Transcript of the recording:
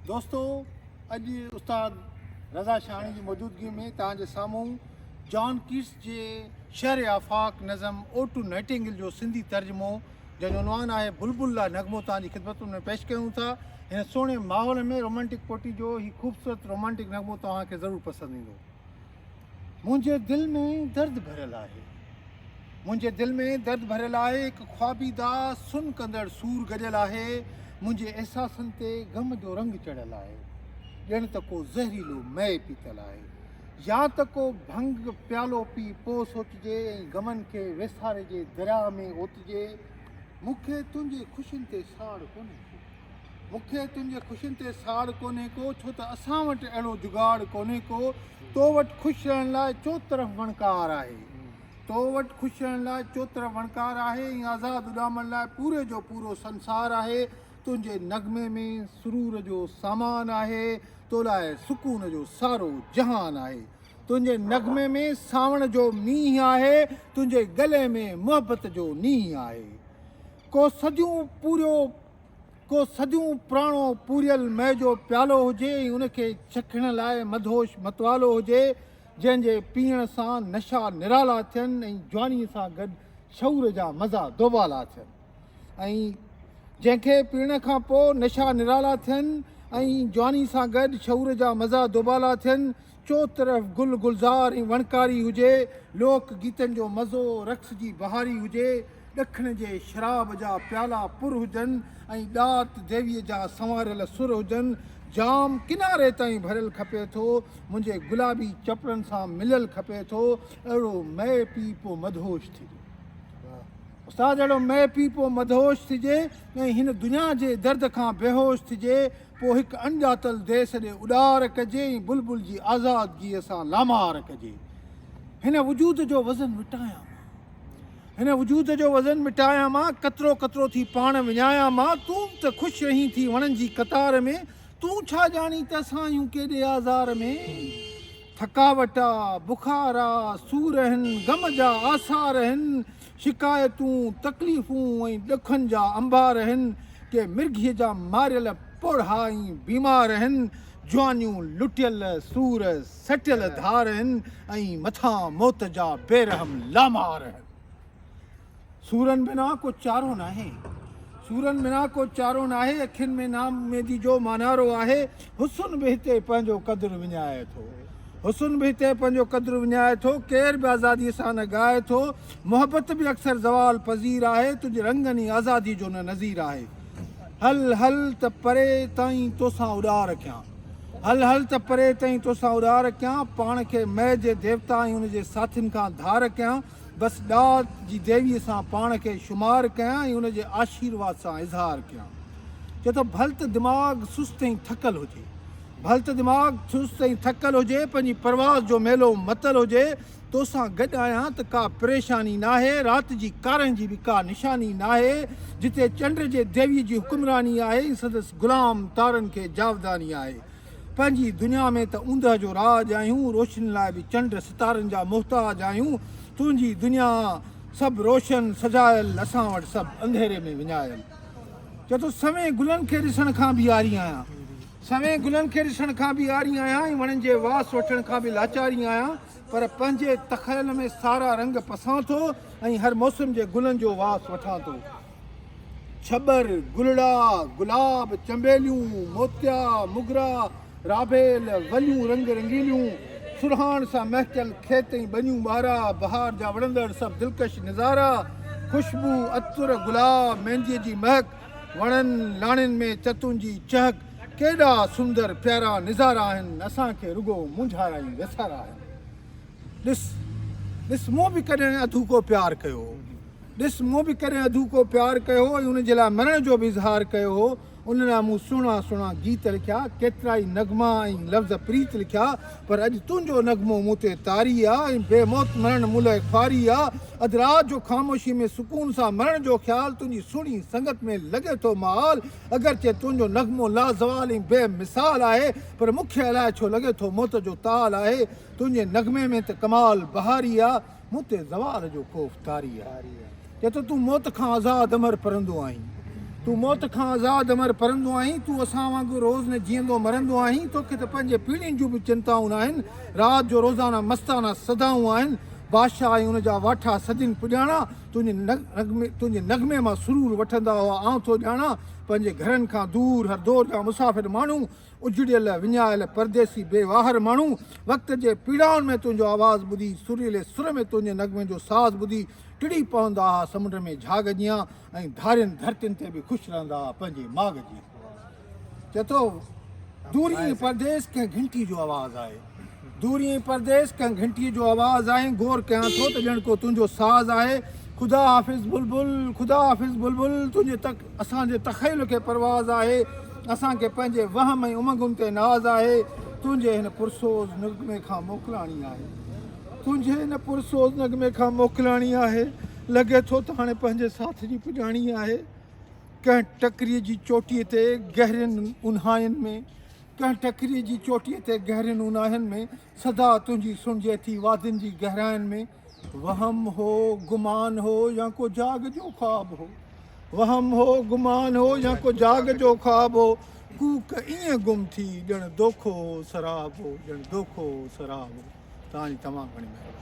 دوستو اڄ استاد رضا شاهاڻي جي موجودگي ۾ توهان جي سامهون جان ڪيٽس جي شهر آفاق نظم او ٽو نائٽنگل جو سنڌي ترجمو جنهن جو عنوان آهي بلبل لا نغمو توهان جي خدمتن ۾ پيش ڪيون ٿا هن سهڻي ماحول ۾ رومانٽڪ پوئٽري جو هي خوبصورت رومانٽڪ نغمو توهان کي ضرور پسند ايندو منهنجي دل ۾ درد ڀريل آهي. منهنجي دل ۾ درد ڀريل آهي، هڪ خوابيده سن ڪندڙ سور گڏيل آهي، منهنجي احساسن تي غم جو رنگ چڙهيل آهي، ڄڻ ته ڪو زهريلو مئي پيتل آهي يا ته ڪو ڀنگ پيالو پي پوء سوچجي ۽ غمن کي ويساري جي درياهه ۾ اوتجي، مون کي تنهنجي خوشين تي ساڙ ڪونهي ٿي. مون کي تن جي خوشين تي ساڙ ڪونهي ڪو ڇو ته اسان وٽ اهڙو جگاڙ ڪونهي ڪو تو وٽ خوش رهڻ لاء چوطرف وڻڪار آهي تو وٽ خوش رهڻ لاء چوطرف وڻڪار آهي ۽ آزاد اڏامڻ لاء پوري جو پورو سنسار آهي تنهنجي نغمي ۾ سرور جو سامان آهي تو لاء سڪون جو سارو جهان آهي تنهنجي نغمي ۾ ساوڻ جو مينهن آهي تنهنجي گلي ۾ محبت جو نينهن آهي ڪو سڄون پوريو ڪو صديون پراڻو پوريل مئي جو پيالو هجي ۽ ان کي چکڻ لاء مدهوش متوالو هجي، جنهن جي پيئڻ سان نشا نرالا ٿين ۽ جوانيء سان گڏ شعور جا مزا دوبالا ٿين ۽ جنهن کي پيئڻ کان پوء نشا نرالا ٿين ۽ جوانيء سان گڏ شعور جا مزا دوبالا ٿين، چوطرف گل گلزار ۽ وڻڪاري هجي، لوڪ گيتن جو مزو، رقص جي بهاري هجي، ڏکڻ جي شراب جا پيالا پر هجن ۽ ڏات ديويء جا سنواريل سر هجن، جام ڪناري تائين ڀريل کپي ٿو، منهنجي گلابي چپڙن سان مليل کپي ٿو، اهڙو مئي پي پو مدهوش ٿجي. استاد اهڙو مئي پي پو مدهوش ٿجي ۽ هن دنيا جي درد کان بيهوش ٿجي، پوء هڪ اڻڄاتل ديس ڏي اڏار ڪجي ۽ بلبل جي آزادگيء سان لامار ڪجي. هن وجود جو وزن مٽايان مان. هن وجود جو وزن مٽايان مان، قطرو قطرو ٿي پاڻ وڃايان مان، تون به ته خوش رهين ٿي وڻن جي قطار ۾، تون ڇا ڄاڻين ته اسان آهيون ڪيڏي آزار ۾. ٿڪاوٽ آ، بخار آ، سور هن، غم جا آثار هن، شڪايتون، تڪليفون ۽ ڏکن جا انبار آهن، ڪي مرگهيء جا ماريل پوڙها ۽ بيمار آهن، جوانيون لٽيل، سور سٽيل ڌار آهن ۽ مٿان موت جا بيرحم لامار آهن. سورن بنا ڪو چارو ناهي. سورن بنا ڪو چارو ناهي، اکين ۾ نااميدي جو مانارو آهي. حسن به هتي پنهنجو قدر وڃائي ٿو حسن به هتي پنهنجو قدر وڃائي ٿو ڪير به آزاديء سان نه ڳائي ٿو محبت به اڪثر زوال پذير آهي تنهنجي رنگن ئي آزاديء جو نه نظير آهي هل هل ته پري تائين توسان اڏار ڪيان هل هل ته پري تائين توسان اڏار ڪيان پاڻ کي مئي جي ديوتا ۽ ان جي ساٿين کان ڌار ڪيان بس ڏات جي ديويء سان پاڻ کي شمار ڪيان ۽ ان جي آشيرواد سان اظهار ڪيان. چئه ته ڀل ته دماغ سست ۽ ٿڪل هجي. ڀل ته دماغ سست ۽ ٿڪل هجي، پنهنجي پرواز جو ميلو متل هجي، تو سان گڏ آهيان ته ڪا پريشاني ناهي، رات جي ڪارنهن جي به ڪا نشاني ناهي، جتي چنڊ جي ديويء جي حڪمراني آهي ۽ سندس غلام تارن کي جاوداني آهي. پنهنجي دنيا ۾ ته اوندهه جو راڄ آهيون، روشني لاء به چنڊ ستارن جا محتاج آهيون، تنهنجي دنيا سڀ روشن سجايل، اسان وٽ سڀ انڌيري ۾ وڃايل. چئه ٿو سوين گلن کي ڏسڻ کان به عاري آهيان، سوين گلن کي ڏسڻ کان به عاري آهيان ۽ وڻن جي واس وٺڻ کان به لاچاري آهيان پر پنهنجي تخيل ۾ سارا رنگ پسان ٿو ۽ هر موسم جي گلن جو واس وٺان ٿو. ڇٻر، گلڙا، گلاب، چنبيليون، موتيا، موگرا، رابيل، وليون رنگ رنگيليون، سرهاڻ سان مهڪيل کيت ۽ ٻنيون ٻارا، بهار جا وڻندڙ سڀ دلڪش نظارا، خوشبو، عطر، گلاب، مينديء جي مهڪ، وڻن، لاڻين ۾ چتون جي چهڪ، ڪيڏا سندر پيارا نظارا آهن، اسان کي رڳو مونجهارا ۽ ويسارا آهن. ڏس، ڏس، مون به ڪڏهن اڌوڪو پيار ڪيو. ڏس مون به ڪڏهن اڌوڪو پيار ڪيو ۽ ان جي لاء مرڻ جو به اظهار ڪيو هو، ان لاء مون سهڻا سهڻا گيت لکيا، ڪيترائي نغما ۽ لفظ پريت لکيا، پر اڄ تنهنجو نغمو مون تي طاري آ ۽ بي موت مرڻ مون لئه خواري آ، اڌ رات جو خاموشي ۾ سڪون سان مرڻ جو خيال، تنهنجي سهڻي سنگت ۾ لڳي ٿو محال، اگرچه تنهنجو نغمو لازوال ۽ بي مثال آهي، پر مون کي الائي ڇو لڳي ٿو موت جو تال آهي، تنهنجي نغمي ۾ ته ڪمال بهاري آ. مون تي زوال جو خوف طاري آهي چئي ٿو تون موت کان آزاد امر پرندو آهين تون موت کان آزاد امر پرندو آهين تون اسان وانگر روز نه جيئندو مرندو آهين توکي ته پنهنجي پيڙهين جون به چنتائون ناهن رات جو روزانه مستانه صدائون آهن بادشاهه ۽ ان جا واٺا سڌين پڄاڻا تنهنجي نغمي مان سرور وٺندا هئا آئون ٿو ڄاڻان پنهنجي گهرن کان دور هر دور جا مسافر ماڻهو اجڙيل وڃايل پرديسي بي واهر ماڻهو وقت جي پيڙائن ۾ تنهنجو آواز ٻڌي سريلي سر ۾ تنهنجي نغمي جو ساز ٻڌي ٽڙي پوندا ها سمنڊ ۾ جھاڳ جيان ۽ ڌارين ڌرتين تي به خوش رهندا ها پنهنجي ماڳ جيان چئي ٿو دورين پرديس ڪنهن گهنٽي جو آواز آهي. دوري ۽ پرديس ڪنهن گهنٽيء جو آواز آهين غور ڪيان ٿو ته ڄڻ ڪو تنهنجو ساز آهي خدا حافظ بلبل خدا حافظ بلبل تنهنجي تڪ اسان جي تخيل کي پرواز آهي اسان کي پنهنجي وهم ۽ امنگن تي ناز آهي تنهنجي هن پرسوز نغمي کان موڪلاڻي آهي تنهنجي هن پرسوز نغمي کان موڪلاڻي آهي لڳي ٿو ته هاڻي پنهنجي ساٿ جي پڄاڻي آهي ڪنهن ٽڪري جي چوٽي تي گهرين اونهاين ۾ ڪنهن ٽڪريء جي چوٽيء تي گهرين اوناهين ۾ صدا تنهنجي سڻجي ٿي وادين جي گهراين ۾ وهم هو گمان هو يا ڪو جاڳ جو خواب هو وهم هو گمان هو يا ڪو جاڳ جو خواب هو ڪوڪ ائين گم ٿي ڄڻ دوکو هو سراب هو ڄڻ دوکو هو سراب هو تان جي تمام گهڻي مهرباني